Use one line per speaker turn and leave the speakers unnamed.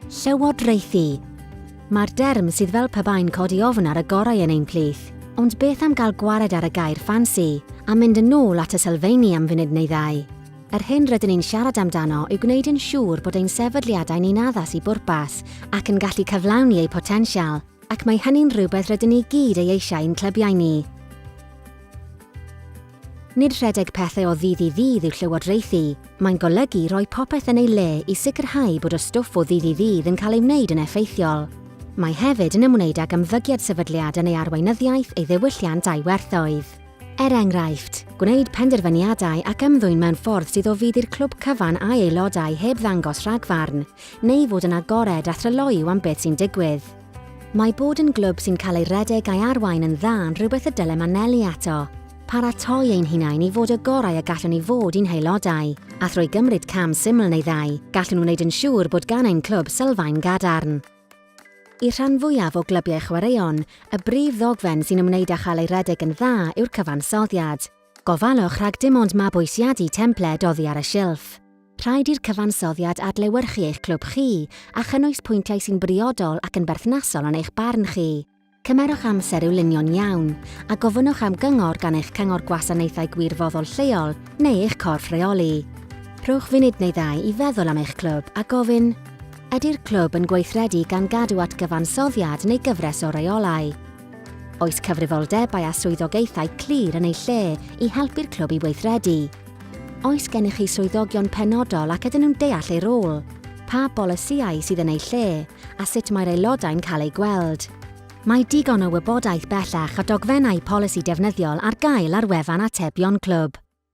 Llywodraethu. Mae'r derm sydd fel pe bai'n codi ofn ar y gorau yn ein plith, ond beth am gael gwared ar y gair ffansi, a mynd yn ôl at y sylfeini am funud neu ddau? Yr hyn rydyn ni'n siarad amdano yw gwneud yn siŵr bod ein sefydliadau ni'n addas i bwrpas ac yn gallu cyflawni eu potensial, ac mae hynny'n rhywbeth rydyn ni gyd ei eisiau i'n clybiau ni. Nid rhedeg pethau o ddydd i ddydd yw llywodraethu, mae'n golygu rhoi popeth yn ei le i sicrhau bod y stwff o ddydd i ddydd yn cael ei wneud yn effeithiol. Mae hefyd yn ymwneud ag ymddygiad sefydliad yn ei arweinyddiaeth, ei ddiwylliant a'i werthoedd. Er enghraifft, gwneud penderfyniadau ac ymddwyn mewn ffordd sydd o fudd i'r clwb cyfan a'i aelodau heb ddangos rhagfarn, neu fod yn agored a thryloyw am beth sy'n digwydd. Mae bod yn glwb sy'n cael ei redeg a'i arwain yn dda yn rhywbeth y dylem anelu ato, paratoi ein hunain i fod y gorau y gallwn i fod i'n haelodau, a thrwy gymryd cam syml neu ddau, gallwn wneud yn siŵr bod gan ein clwb sylfaen gadarn. Y rhan fwyaf o glybiau chwaraeon, y brif ddogfen sy'n ymwneud â chael ei redeg yn dda yw'r cyfansoddiad. Gofalwch rhag dim ond mabwysiadu templed oddi ar y silff. Rhaid i'r cyfansoddiad adlewyrchu eich clwb chi a chynnwys pwyntiau sy'n briodol ac yn berthnasol yn eich barn chi. Cymerwch amser i'w lunio'n iawn, a gofynnwch am gyngor gan eich Cyngor Gwasanaethau Gwirfoddol lleol neu eich corff rheoli. Rhowch funud neu ddau i feddwl am eich clwb a gofyn, Ydy'r clwb yn gweithredu gan gadw at gyfansoddiad neu gyfres o reolau? Oes cyfrifoldebau a swyddogaethau clir yn ei lle i helpu'r clwb i weithredu? Oes gennych chi swyddogion penodol ac ydyn nhw'n deall eu rôl? Pa bolisïau sydd yn eu lle a sut mae'r aelodau'n cael eu gweld? Mae digon o wybodaeth bellach a dogfennau polisi defnyddiol ar gael ar wefan atebion clwb.